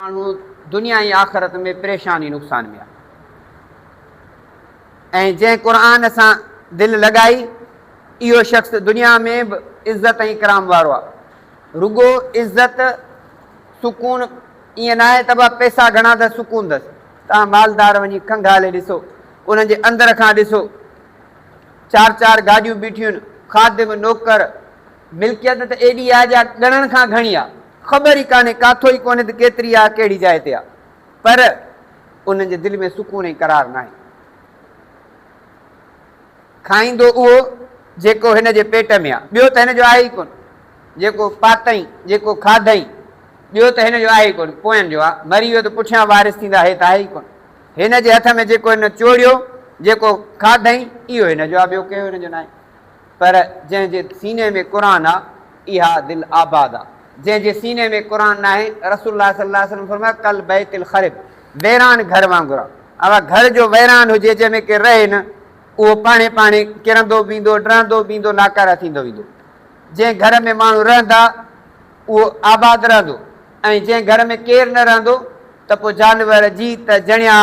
ماڻهو دنيا ۽ آخرت ۾ پريشان ۽ نقصان ۾ آهي ۽ جنهن قرآن سان دل لڳائي اهو شخص دنيا ۾ به عزت ۽ اڪرام وارو آهي رڳو عزت سڪون ائين ناهي ته به پئسا گهڻا اٿس سڪون اٿس توهان مالدار وڃي کنگهالي ڏسو انهن جي اندر کان ڏسو چار چار گاڏيون بيٺيون آهن خادم نوڪر ملڪيت ته ايڏي آهي جا ڳڻڻ کان گهڻي آهي خبر ئي ڪانهي ڪاٿو ئي ڪونهي ته ڪيتري آ ڪهڙي جاء تي آ پر انهن جي دل ۾ سڪون ۽ قرار ناهي. کائيندو اهو جيڪو هن جي پيٽ ۾ آ ٻيو ته هن جو آهي ئي ڪونه جيڪو پاتئين جيڪو کاڌئين ٻيو ته هن جو آهي ئي ڪونه پوئن جو آ مري ويو ته پٺيان وارث ٿيندا هي ته آهي ئي ڪونه هن جي هٿ ۾ جيڪو هن چوڙيو جيڪو کاڌئين اهو هن جو آ ٻيو ڪنهن جو هن جو ناهي. پر جنهن جي سيني ۾ قرآن آ اها دل آباد آ. جنهن جي سيني ۾ قرآن ناهي، رسول الله صلي الله عليه وسلم فرمايو ڪالبيت الخرب، ويران گهر وانگر آ. اها گهر جو ويران هجي جنهن ۾ ڪير رهي نه، اهو پاڻهي پاڻهي ڪرندو ويندو، ڊهندو ويندو، لاڪاره ٿيندو ويندو. جنهن گهر ۾ ماڻهو رهندا اهو آباد رهندو ۽ جنهن گهر ۾ ڪير نه رهندو ته پوء جانور، جيت، جڻيا،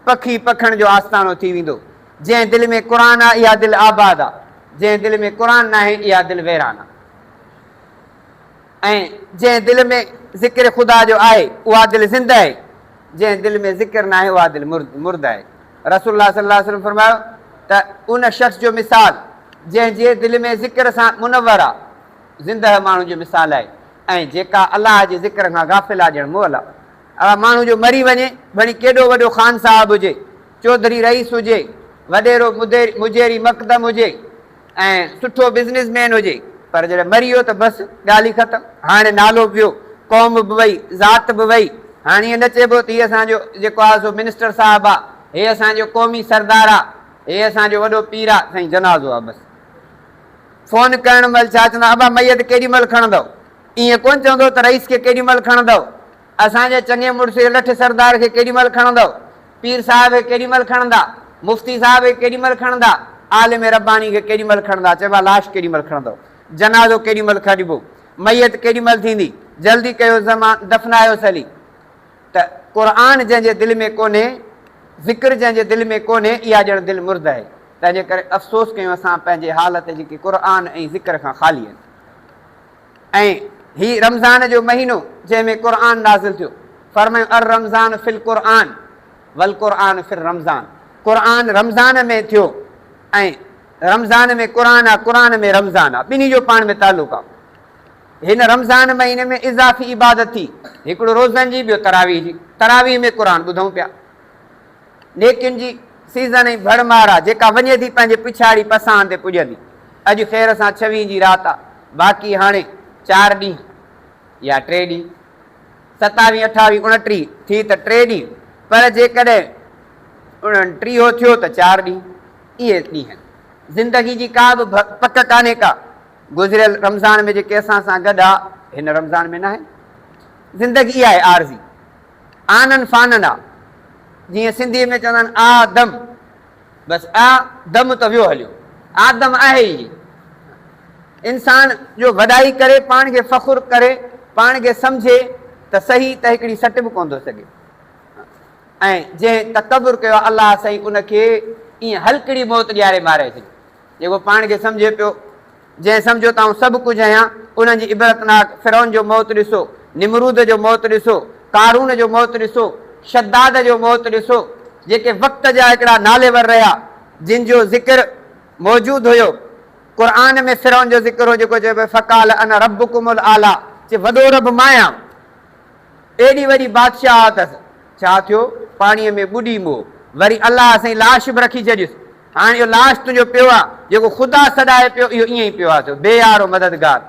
پکي، پکڻ جو آستانو ٿي ويندو. جنهن دل ۾ قرآن آ اها دل آباد آ جنهن دل ۾ قرآن ناهي اها دل ويران آ ۽ جنهن دل ۾ ذڪر خدا جو آهي اها دل زنده آهي جنهن دل ۾ ذڪر ناهي اها دل مرده آهي رسول الله صلي الله عليه وسلم فرمايو ته ان شخص جو مثال جنهن جي دل ۾ ذڪر سان منور آ زنده ماڻهو جو مثال آهي ۽ جيڪا الله جي ذڪر کان غافل آ ڄڻ مئل آ اها ماڻهو جو مري وڃي ڀڻي ڪيڏو وڏو خان صاحب هجي چوڌري رئيس هجي، وڏيرو مجيري مقدم هجي ۽ سٺو بزنس مين هجي پر جڏهن مري ويو ته بس ڳالهه ئي ختم. هاڻي نالو به ويو، قوم به وئي، ذات به وئي. هاڻي ائين نه چئبو ته هي اسان جو جيڪو آهي سو منسٽر صاحب آ، هي اسان جو قومي سردار آ، هي اسان جو وڏو پير آ، سائين جنازو آ بس. فون ڪرڻ مهل ڇا چوندو آهي ابا ميت ڪيڏي مهل کڻندؤ؟ ائين ڪونه چوندو ته رئيس کي ڪيڏي مهل کڻندؤ؟ اسان جي چڱي مڙس کي لٺ سردار کي ڪيڏي مھل کڻندؤ؟ پير صاحب کي ڪيڏي مھل کڻندا؟ مفتي صاحب کي ڪيڏي مھل کڻندا؟ عالم رباني کي ڪيڏي مھل کڻندا؟ چئبو آھي لاش ڪيڏي مھل کڻندؤ؟ جنازو ڪيڏي مھل کڻبو؟ ميت ڪيڏي مھل ٿيندي؟ جلدي ڪيو زمان دفنايوس ھلي. ته قرآن جنھن جي دل ۾ ڪونھي، ذڪر جنھن جي دل ۾ ڪونھي، اھا ڄڻ دل مرده آھي. تنھنجي ڪري افسوس ڪيون اسان پنھنجي حال تي جيڪي قرآن ۽ ذڪر کان خالي آھن. ۽ هي رمضان جو مهينو جنهن ۾ قرآن نازل ٿيو، فرمايو الرمضان في القرآن والقرآن في الرمضان قرآن رمضان ۾ ٿيو ۽ رمضان ۾ قرآن آ قرآن ۾ رمضان آ ٻنهي جو پاڻ ۾ تعلق آ هن رمضان مهيني ۾ اضافي عبادت ٿي هڪڙو روزن جي ٻيو تراويح جي تراويح ۾ قرآن ٻڌون پيا. نيڪين جي سيزن ۽ ڀڙ مار آ، جيڪا وڃي ٿي پنهنجي پڇاڙي پساهن تي پڄندي. اڄ خير سان ڇويهين جي رات آ، باقي هاڻي چار ڏينهن يا ٽي ڏينهن. ستاويهين، اٺاويهين، اڻٽيهين ٿي ته ٽي ڏينهن، پر جيڪڏهن اڻٽيهو ٿيو ته چار ڏينهن. اهي ڏينهن. زندگي جي ڪا به پڪ ڪانهي ڪا. گذريل رمضان ۾ جيڪي اسان سان گڏ آ، هن رمضان ۾ ناهن. زندگي اها آهي عارضي. آنن فانن آ، جيئن سنڌيء ۾ چوندا آهن، آ دم، بس آ دم ته ويو هليو، آ دم آهي ئي ني. انسان جو وڏائي ڪري، پاڻ کي فخر ڪري، پاڻ کي سمجهي ته صحيح ته هڪڙي سٽ به ڪونه ٿو سگهي ۽ جنهن تڪبر ڪيو آ، الله سائين ان کي ائين هلڪڙي موت ڏياري ماري ڇڏيو. جيڪو پاڻ کي سمجهي پيو، جنهن سمجهيو ته آئون سڀ ڪجهه آهيان، انهن جي عبرتناڪ فرعون جو موت ڏسو، نمرود جو موت ڏسو، قارون جو موت ڏسو، شداد جو موت ڏسو، جيڪي وقت جا هڪڙا ناليور رهيا، جن جو ذڪر موجود هيو، قرآن ۾ فرعون جو ذڪر هو جيڪو چيو پيو فقال انا ربڪم الاعليٰ، چي وڏو رب مان آهيان، ايڏي وڏي بادشاهت اٿس، ڇا ٿيو پاڻيء ۾ ٻڏي مئو، وري الله سائين لاش به رکي ڇڏيس، هاڻ اهو لاش تنهنجو پيو آ، جيڪو خدا سڏائي پيو، اهو ائين ئي پيو آ ٿيو، بي يارو مددگار.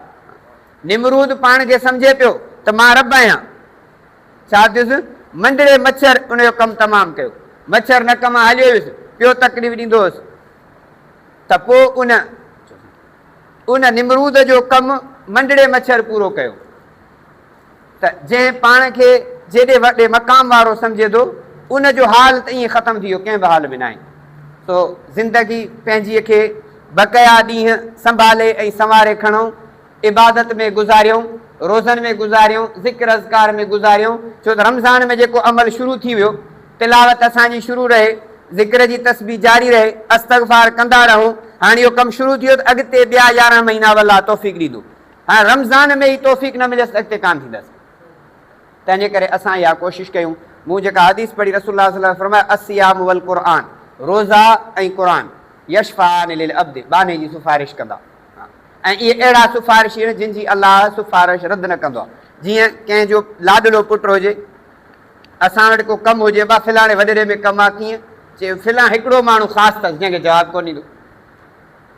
نمرود پاڻ کي سمجهي پيو ته مان رب آهيان. ڇا ٿيس؟ منڊڙي مڇر ان جو ڪم تمام ڪيو. مڇر نڪ مان هليو ويس، پيو تڪليف ڏيندو هوس ته پوء ان ان نمرود جو ڪم منڊڙي مڇر پورو ڪيو. ته جنهن پاڻ کي جيڏي وڏي مقام وارو سمجهي ٿو ان جو حال ته ائين ختم ٿي ويو ڪنهن به حال ۾ ناهي سو زندگي پنهنجي کي بقيا ڏينهن سنڀالي ۽ سنواري کڻئون عبادت ۾ گذاريون روزن ۾ گذاريون ذڪر اذڪار ۾ گذاريون ڇو ته رمضان ۾ جيڪو عمل شروع ٿي ويو تلاوت اسان جي شروع رهي ذڪر جي تسبيح جاري رهي استغفار ڪندا رهون هاڻي اهو ڪم شروع ٿي ويو ته اڳتي ٻيا يارهن مهينا والله توفيق ڏيندو هاڻ رمضان ۾ ئي توفيق نه مليس ته اڳتي ڪانه ٿيندس. تنهنجي ڪري اسان اها ڪوشش ڪيون. مون جيڪا حديث پڙهي رسول الله صلي الله عليه وسلم فرمايو، الصيام والقرآن، روزا ۽ قرآن، يشفعان للعبد، ٻانهي جي سفارش ڪندا. ۽ اهي اهڙا سفارشي آهن جن جي الله سفارش رد نه ڪندو آهي. جيئن ڪنهن جو لاڏلو پٽ هجي، اسان وٽ ڪو ڪم هجي، ابا فلاڻي وڏيري ۾ ڪم آهي ڪيئن؟ چئي فلان هڪڙو ماڻهو خاص اٿس جنهن کي جواب ڪونه ڏيندو.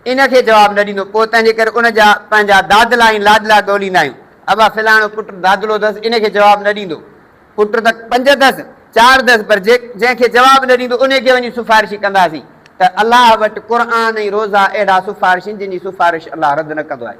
ان کي جواب نه ڏيندو پوء تنهن جي ڪري ان جا پنهنجا دادلا ۽ لاڏلا ڳوليندا آهيون. ابا فلاڻو پٽ دادلو اٿس ان کي جواب نه ڏيندو. پٽ ته پنج اٿس، چار اٿس پر جنهن کي جواب نه ڏيندو انهي کي وڃي سفارشي ڪنداسين ته الله وٽ قرآن ۽ روزا اهڙا سفارشين جن جي سفارش الله رد نه ڪندو آهي.